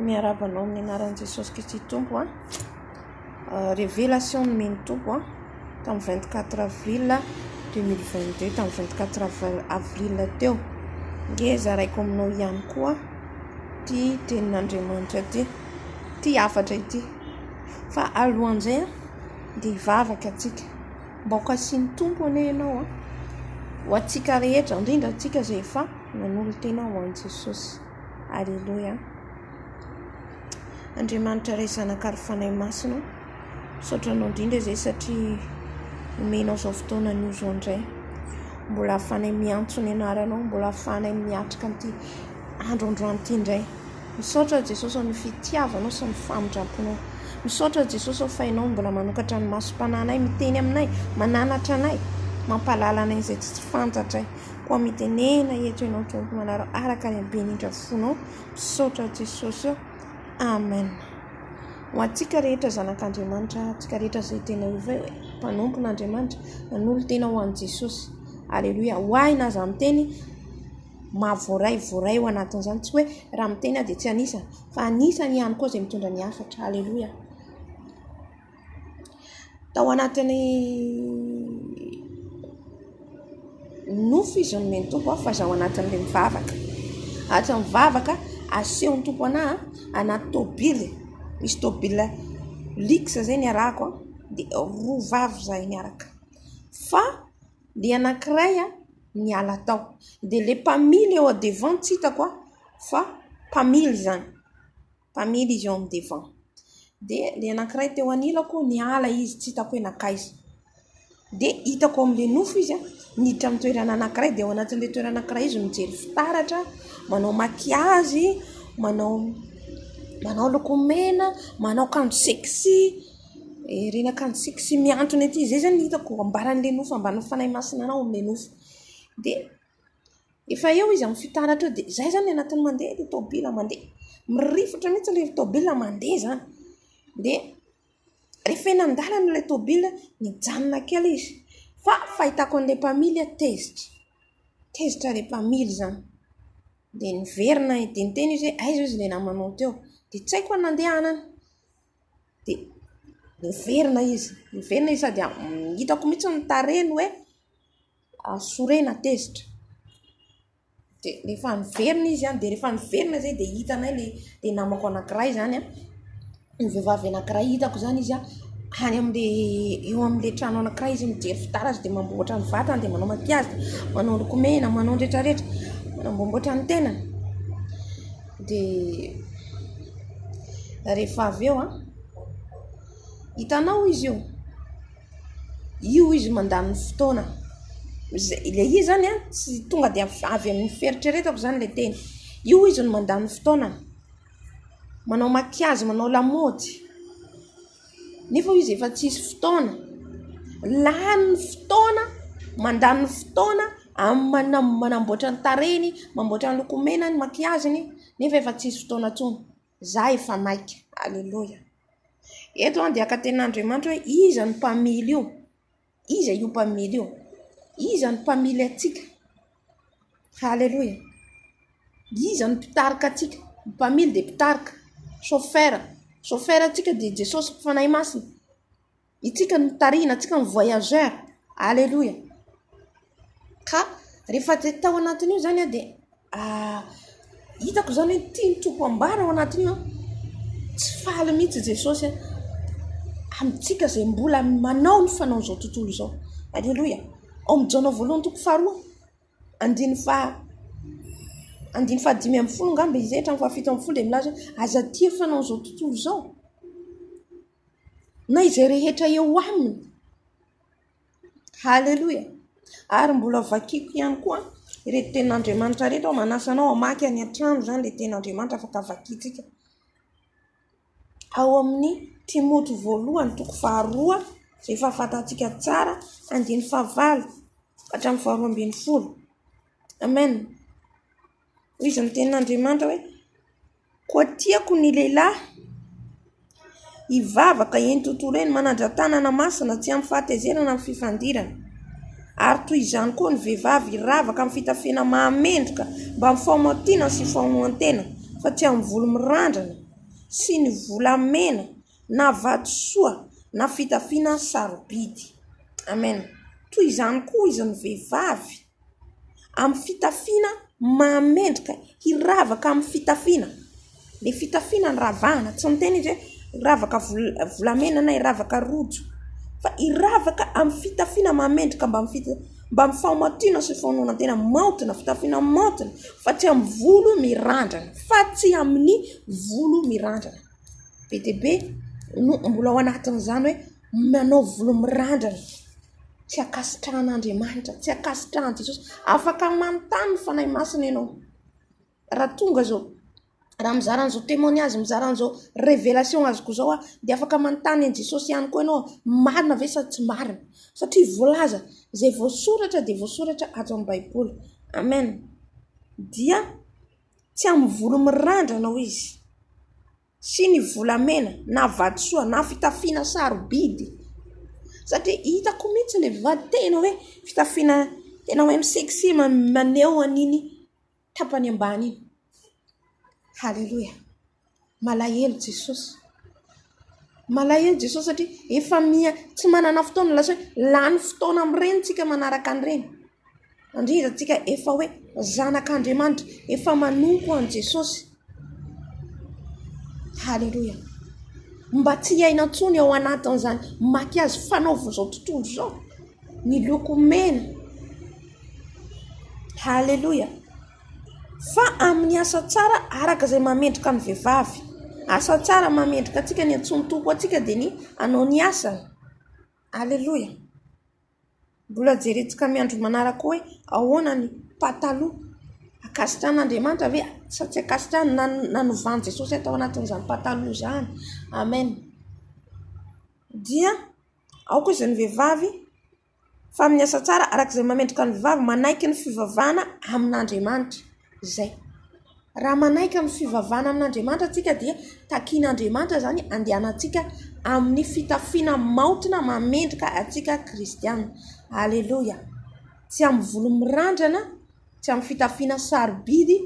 Miarahaba anao amin'ny anaran'i Jesosy Kristy Tompo a. Ah, révélation nomen'ny Tompo a tamin'ny 24 avril 2022 tamin'ny 24 avr- avril teo. Nge zaraiko aminao ihany koa ity tenin'Andriamanitra ity, ity hafatra ity. Fa alohan'izay a, dia hivavaka antsika. Mba ho kasihin'ny Tompo anie ianao a, ho antsika rehetra, indrindra antsika izay efa. Manolo-tena ho an'i Jesosy. Aleloia. Andriamanitra Ray, Zanaka ary Fanahy Masina, misaotra Anao indrindra izay satria omenao izao fotoana anio izao indray. Mbola ahafahanay miantso ny Anaranao, mbola ahafahanay miatrika an'ity andro androany ity indray. Misaotra Jesosy amin'ny fitiavanao sy ny famindramponao. Misaotra Jesosy ao fa Ianao mbola manokatra ny masom-pananay, miteny aminay, mananatra anay, mampahalala anay izay tsy tsy fantatray. Koa mitenena eto ianao tompon'anareo araka ny habeny indra fonao misaotra Jesosy ô Amen ho antsika rehetra zanak'Andriamanitra antsika rehetra izay tena ovay hoe mpanompon'Andriamanitra nanolo-tena ho an'i Jesosy Aleloia ho ahy na za miteny maha voaray voaray ho anatin'izany tsy hoe raha miteny aho dia tsy anisany fa anisany ihany koa izay mitondra ny hafatra Aleloia. Tao anatin'ny nofo izy no nomen'ny Tompo ahy fa izaho anatin'ilay mivavaka. Anaty mivavaka asehon'ny Tompo ana anaty tôbily, misy tôbily lix izay niarahako an, dia roa vavy izahay niaraka. Fa ny anankiray niala tao, dia ilay mpamily eo an-devant tsy hitako an, fa mpamily izany. mpamily izy eo amin'ny divan. Dia ilay anankiray teo anilako niala izy tsy hitako hoe nankaiza. Dia hitako ao amin'ilay nofo izy niditra amin'ny toerana anankiray dia ao anatin'ilay toerana anankiray izy mijery fitaratra, manao makiazy, manao manao lokomena, manao akanjo sexy, ireny akanjo sexy mihantona ety. Izay izany no hitako ambaran'ilay nofo, ambaran'ny fanahy masinanà ao amin'ilay nofo. Dia. Efa eo izy amin'ny fitaratra eo dia izay izany ny anatin'ny mandeha ilay tomobil mandeha. Mirifitra mihitsy ilay tomobil mandeha izany. Dia rehefa eny an-dalana ilay tomobil, mijanona kely izy. Fa ny fahitako an'ilay mpamily, tezitra. Tezitra ilay mpamily izany. Dia niverina dia niteny izy hoe aiza hozy ilay namanao teo. Dia tsy haiko ny nandehanany. Dia niverina izy. Niverina izy sady hitako mihitsy ny tarehiny hoe. sorena tezitra dia rehefa niverina izy dia rehefa niverina izay dia hitanay ilay dia namako anankiray izany an ny vehivavy anankiray hitako izany izy an any amin'ilay eo amin'ilay trano anankiray izy mijery fitaratra dia mamboatra ny vatany dia manao makiazy manao lokomena manao ny rehetrarehetra manamboamboatra ny tenany dia rehefa avy eo an hitanao izy io Io izy mandany fotoana ilay izy zany a tsy tonga dia avy amin'ny fieritreretako zany ilay teny. Io izy no mandany fotoana manao maquillage, manao lamaody nefa izy efa tsy misy fotoana. Lany ny fotoana, mandany ny fotoana amin'ny manamboatra ny tarehiny, manamboatra ny lokomenany, ny maquillage-ny nefa efa tsy misy fotoana intsony. Za efa maika. Aleloia. Eto an dia ka tena Andriamanitra hoe iza no mpamily io? Iza io mpamily io? Iza no mpamily antsika? Aleloia. Iza no mpitarika antsika? Ny mpamily dia mpitarika. Chauffeur. Chauffeur antsika dia Jesosy Fanahy Masina. Isika no tarihina, isika no voyageur. Aleloia. Ka rehefa izay tao anatin'io izany aho dia hitako izany hoe tia ny Tompo ambara ao anatin'io. Tsy faly mihitsy i Jesosy amintsika izay mbola manao ny fanaon'izao tontolo izao. Aleloia. Ao amin'ny Jaona voalohany toko faharoa andininy faha andininy faha dimy ambin'ny folo angamba izay hatramin'ny faha fito ambin'ny folo dia milaza hoe aza tia ny fanaon'izao tontolo izao. na izay rehetra eo aminy. Haleloia! Ary mbola vakiko ihany koa ireto tenin'Andriamanitra ireto aho, manasa anao hamaky any an-trano izany ilay tenin'Andriamanitra afaka vakintsika. Ao amin'ny Timoty voalohany toko faharoa, izay efa fantatsika tsara, andininy fahavalo ka hatramin'ny faharoa ambin'ny folo. Amen. Hoy izy ny tenin'Andriamanitra hoe, Koa tiako ny lehilahy hivavaka eny tontolo eny, manandra-tanana masina tsy amin'ny fahatezerana na amin'ny fifandirana, ary toy izany koa ny vehivavy hiravaka amin'ny fitafiana mahamendrika mba amin'ny fahamaontiana sy famonoan-tena fa tsy amin'ny volo mirandrana sy ny volamena na vatosoa na fitafiana sarobidy. Amen. Toy izany koa hoy izy ny vehivavy. amin'ny fitafiana mahamendrika, hiravaka amin'ny fitafiana. Ny fitafiana no ravahana, tsy miteny izy hoe hiravaka volamena na hiravaka rojo, fa hiravaka amin'ny fitafiana mahamendrika mba amin'ny fahamatoana sy fahaononantena maontina, fitafiana maontina, fa tsy amin'ny volo mirandrana, fa tsy amin'ny volo mirandrana. Be dia be no mbola ao anatin'izany hoe manao volo mirandrana. Tsy ankasitrahan'Andriamanitra, tsy ankasitrahan'i Jesosy. Afaka manontany ny Fanahy Masina ianao. Raha tonga izao, raha mizara an'izao témoignage, mizara an'izao révélation azoko izao aho, dia afaka manontany an'i Jesosy ihany koa ianao hoe, marina ve sa tsy marina? Satria voalaza, izay voasoratra dia voasoratra ato amin'ny Baiboly. Amen. Dia tsy amin'ny volo mirandrana hoy Izy. sy ny volamena na vatosoa na fitafiana sarobidy satria hitako mihitsy ilay vady tena hoe fitafiana tena hoe mi-sexy maneho an'iny tapany ambany iny. Haleloia! Malahelo Jesosy. Malahelo Jesosy satria efa miha tsy manana fotoana lasa hoe lany fotoana amin'ireny isika manaraka an'ireny. Andridrantsika efa hoe zanak'Andriamanitra, efa manompo an'i Jesosy. Haleloia! Mba tsy hiaina intsony ao anatin'izany makiazy fanaovin'izao tontolo izao, ny loko mena. Haleloia! Fa amin'ny asa tsara araka izay mahamendrika ny vehivavy. Asa tsara mahamendrika antsika, ny antsoin'ny Tompo antsika dia ny hanao ny asany. Haleloia! Mbola jeretsika amin'ny andro manaraka hoe ahoana ny pataloha. Ankasitrahan'Andriamanitra ve sa tsy ankasitrahany na nanovan'i Jesosy hatao anatin'izany pataloha izany? Amen. Dia aoka hoy izy ny vehivavy fa amin'ny asa tsara araka izay mahamendrika ny vehivavy manaiky ny fivavahana amin'Andriamanitra. Izay. Raha manaiky ny fivavahana amin'Andriamanitra isika dia takian'Andriamanitra izany handehanantsika amin'ny fitafiana maontina mamendrika antsika kristiana. Aleloia. Tsy amin'ny volo mirandrana, tsy amin'ny fitafiana sarobidy,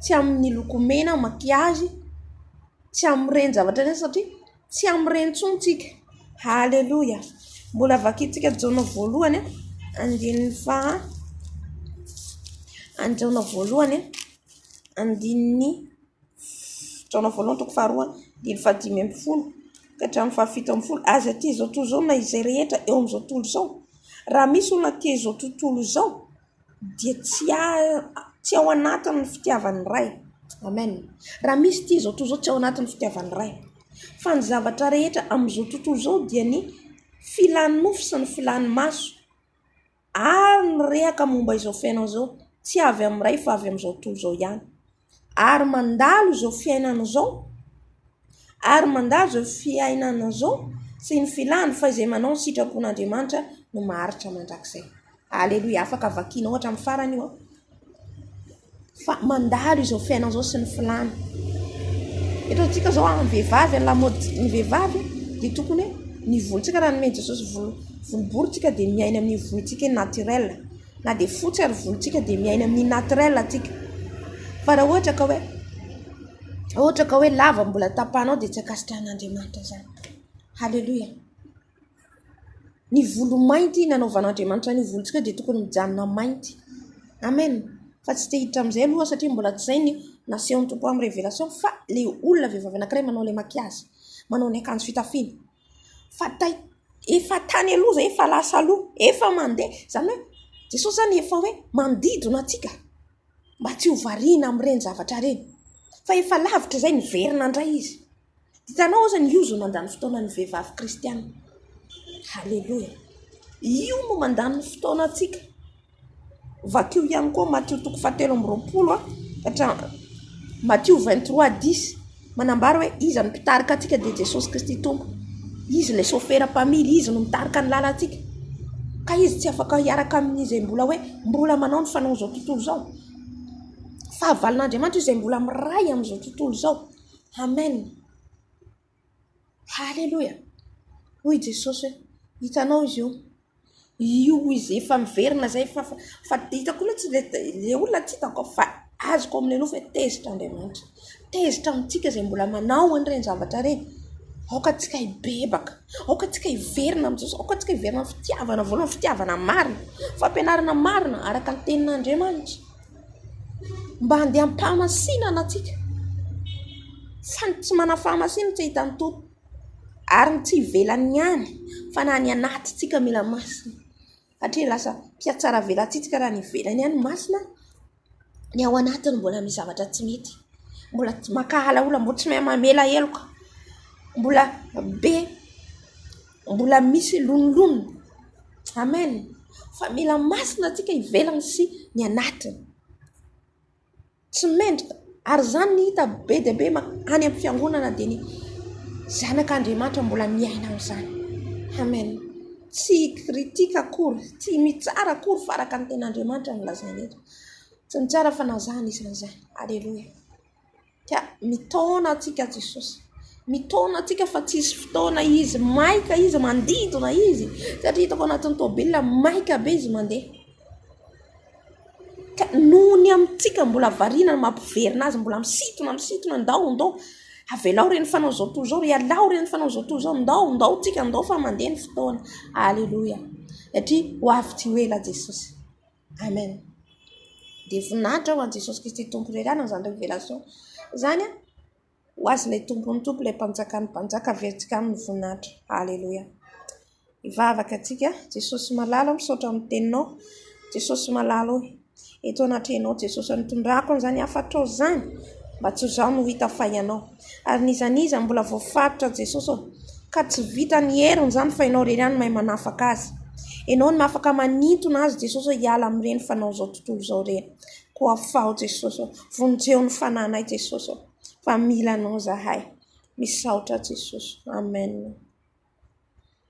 tsy amin'ny lokomena, makiazy, tsy amin'ny reny zavatra ireny satria Tsy amin'ireny intsony tsika. Haleloia. Mbola vakintsika Jaona voalohany andininy faha any Jaona voalohany andininy Jaona voalohany toko faharoa andininy faha dimy ambin'ny folo ka hatramin'ny faha fito ambin'ny folo. Aza aty izao tontolo izao na izay rehetra eo amin'izao tontolo izao. Raha misy olona aty izao tontolo izao dia tsy tsy ao anatin'ny fitiavan'ny Ray. Amen! Raha misy ity izao tontolo izao tsy ao anatin'ny fitiavan'ny Ray. Fa ny zavatra rehetra amin'izao tontolo izao dia ny filan'ny nofo sy ny filan'ny maso. Ary ny rehaka momba izao fiainana izao tsy avy amin'ny Ray fa avy amin'izao tontolo izao ihany. ary mandalo izao fiainana izao ary mandalo izao fiainana izao sy ny filàny fa izay manao ny sitrapon'Andriamanitra no maharitra mandrakizay. Aleloia! Afaka vakianao hatramin'ny farany io an! Fa mandalo izao fiainana izao sy ny filàny. Eto amintsika izao amin'ny vehivavy, ny lamaodin'ny vehivavy dia tokony hoe ny volontsika raha nomen'i Jesosy volo volobory isika dia miaina amin'io volontsika hoe naturel. Na dia fotsy ary volontsika dia miaina amin'ny naturel tsika fa raha ohatra ka hoe raha ohatra ka hoe lava no mbola tapahanao dia tsy ankasitrahan'Andriamanitra izany. Haleloia. Ny volo mainty nanaovan'Andriamanitra an'io volontsika dia tokony mijanona mainty. Amen. Fa tsy te hiditra amin'izay aloha aho satria mbola tsy izay ny nasehon'ny Tompo amin'ny révélation fa ilay olona vehivavy anankiray manao ilay maquillage, manao ny akanjo fitafiana. fa tay efa tany aloha izay efa lasa aloha efa mandeha izany hoe Jesosy izany efa hoe manodidina antsika mba tsy ho variana amin'ireny zavatra ireny fa efa lavitra izay niverina indray izy hitanao aza ny ozony mandany fotoana ny vehivavy kristianina haleloia io no mandany ny fotoana antsika Vakio ihany koa Matio toko fahatelo amby roapolo ka hatramin'ny Matio vingt trois dix. Manambara hoe iza no mpitarika antsika dia Jesosy Kristy Tompo. Izy ilay sôfera mpamily, izy no mitarika ny lalantsika. Ka izy tsy afaka hiaraka amin'izay mbola hoe mbola manao ny fanaon'izao tontolo izao. Fahavalon'Andriamanitra izay mbola miray amin'izao tontolo izao. Amen. Haleloia! Hoy i Jesosy hoe, Hitanao izy io? Io izy efa miverina izay, fa, fa, fa hitako mihitsy ilay, ilay olona tsy hitako aho, fa azoko ao amin'ilay nofo hoe tezitra Andriamanitra. Tezitra amintsika izay mbola manao an'ireny zavatra ireny. Aoka antsika hibebaka. Aoka antsika hiverina amin'i Jesosy. Aoka antsika hiverina amin'ny fitiavana voalohany, fitiavana marina, fampianarana marina araka ny Tenin'Andriamanitra. mba handeha am-pahamasinana antsika fa ny tsy manana fahamasinana tsy hahita an'itony ary ny tsy ivelany ihany fa na ny anatintsika mila masina satria lasa mpihatsaravelatsihy raha ny ivelany ihany masina ny ao anatiny mbola misy zavatra tsy mety mbola maka alaola mbola tsy mahay mamela heloka mbola be Mbola misy loniloniny. Amen. Fa mila masina tsika ivelany sy ny anatiny. Tsy mendrika. Ary izany no hita be dia be any amin'ny fiangonana dia ny zanak' Andriamanitra mbola miaina amin'izany. Amen. Tsy hi-critique akory, tsy mitsara akory fa araka ny tenin' Andriamanitra no lazaina eto. Tsy mitsara fa na zah anisany izany. Aleloia. Ka mitaona antsika Jesosy. Mitaona antsika fa tsy hisy fotoana izy maika izy mandidona izy satria hitako anatin'ny tomobilina maika be izy mandeha. Ka noho ny amintsika mbola variana ny mampiverina azy mbola misintona misintona ndao ndao avelao re ny fanao izao tontolo izao, ialao re ny fanao izao tontolo izao, ndao ndao tsika ndao fa mandeha ny fotoana. Aleloia satria ho avy tsy ho ela Jesosy. Amen dia voninahitra ho an'i Jesosy Kristy Tompo irery ihany izany révélation izany an! ho azy ilay Tompon'ny Tompo ilay Mpanjakan'ny Mpanjaka averintsika aminy ny voninahitra Aleloia hivavaka tsika Jesosy malala oh misaotra amin'ny teninao Jesosy malala oh eto anatrehanao Jesosy nitondrako an'izany hafatrao izany mba tsy ho izaho no hita fa ianao Ary n'iza n'iza mbola voafaritra Jesosy ô Ka tsy vitan'ny heriny zany fa ianao irery ihany mahay manafaka azy Ianao no afaka manintona azy Jesosy ô Hiala amin'ireny fanao izao tontolo izao ireny Koa afaho Jesosy ô Vonjeo ny fanahinay Jesosy ô Fa mila anao zahay Misaotra Jesosy Amen.